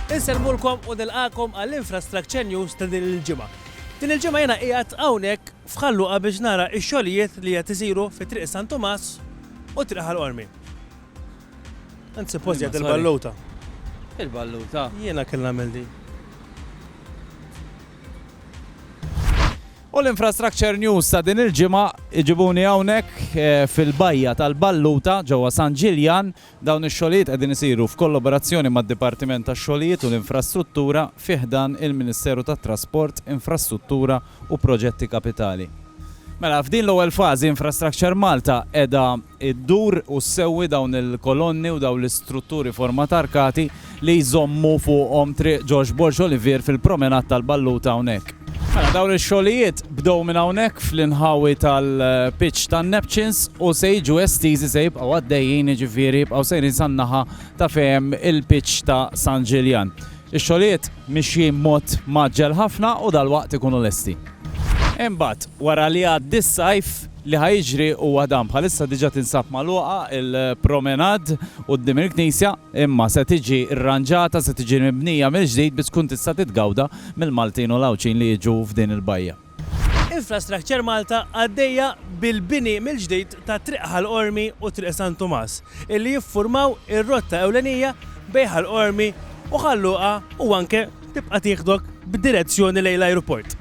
Inselmulkom u nilqakom għall-Infrastructure News ta' din il-ġimgħa. Din il-ġimgħa jiena qiegħed hawnhekk f'Ħal Luqa biex nara x-xogħlijiet li qed isiru fi Triq San Tumas u Triq Ħal Qormi. Anzi, post jgħid il-balluta. Il-balluta. Jiena kelli nagħmel din. U l-Infrastructure News ta' din il-ġimgħa jġibuni hawnhekk fil-bajja tal-Balluta ġewwa San Ġiljan. Dawn ix-xogħlijiet qegħdin isiru f'kollaborazzjoni mad-Dipartiment tax-Xogħlijiet u l-Infrastruttura fi ħdan il-Ministeru tat-Trasport, Infrastruttura u Proġetti Kapitali. Mela, f'din l-ewwel fażi Infrastructure Malta qiegħda ddur u ssewwi dawn il-kolonni u dawn l-istrutturi format arkati. li jżommu fuqhom Triq Ġorġ Borg Olivier fil-Promenade tal-Balluta hawnhekk. Mela dawn ix-xogħlijiet bdew minn hawnhekk fl-inħawi tal-pitch tan-Neptunes u se jiġu estiżi se jibqgħu għaddejjin jiġifieri jibqgħu sejrin san-naħa ta' fejn hemm il-pitch ta' San Ġiljan. Ix-xogħlijiet mixjin b'mod mgħaġġel ħafna u dalwaqt ikunu lesti. Imbagħad wara li jgħaddi s-sajf li ħa jiġri huwa dan, bħalissa diġà tinsab magħluqa l-Promenade quddiem il-Knisja. imma se tiġi rranġata, se tiġi mibnija mill-ġdid biex tkun tista' titgawda mill-Maltin u l-Għawdxin li jiġu f'din il-bajja. Infrastructure Malta għaddejja bil-bini mill-ġdid ta' Triq Ħal Qormi u Triq San Tumas, illi jiffurmaw ir-rotta ewlenija bejn Ħal Qormi u Ħal Luqa u anke tibqa' tieħdok b'direzzjoni lejn l-ajruport.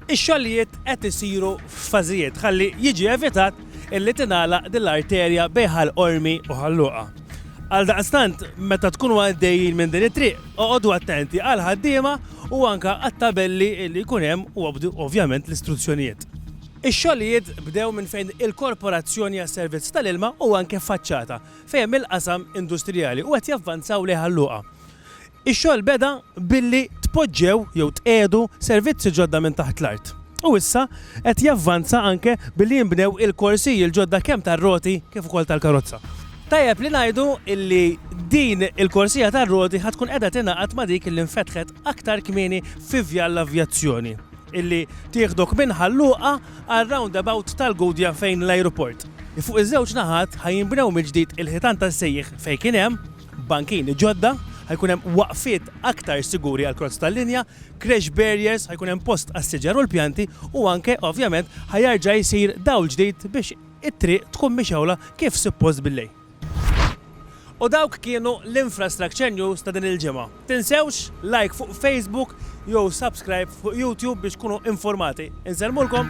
Ix-xogħlijiet qed isiru f'fażijiet ħalli jiġi evitat illi tingħalaq din l-arterja bejn Ħal Qormi u Ħal Luqa. Għaldaqstant, meta tkunu għaddejjin minn din it-triq, oqogħdu attenti għall-ħaddiema u anke għat-tabelli li jkun hemm u obdu ovvjament l-istruzzjonijiet. Ix-xogħlijiet bdew minn fejn il-Korporazzjoni għas-Servizz tal-Ilma u anke faċċata fejn hemm il-qasam industrijali u qed javvanzaw lejn Ħal Luqa. Ix-xogħol beda billi tpoġġew jew tqiegħdu servizzi ġodda minn taħt l-art u issa qed javvanza anke billi jinbnew il-korsiji l-ġodda kemm tar-roti kif ukoll tal-karozza. Tajjeb li ngħidu li din il-korsija tar-roti ħa tkun qiegħda tingħaqad ma' dik li nfetħet aktar kmieni fi Vjal l-Avjazzjoni li tieħdok minn Ħal Luqa għar-roundabout tal-Gudja fejn l-ajruport. Fuq iż-żewġ naħat ħa jinbnew mill-ġdid il-ħitan tas-sejjieħ fejn kien hemm, bankini ġodda, ħa jkun hemm waqfiet aktar siguri għall-kross tal-linja, crash barriers, ħa jkun hemm post għas-siġar u l-pjanti u anke, ovvjament, ħa jerġa' jsir dawl ġdid biex it-triq tkun mixgħula kif suppost bil-lejl. U dawk kienu l-Infrastructure News ta' din il-ġimgħa. Tinsewx like fuq Facebook jew subscribe fuq YouTube biex tkunu infurmati. Insellmulkom!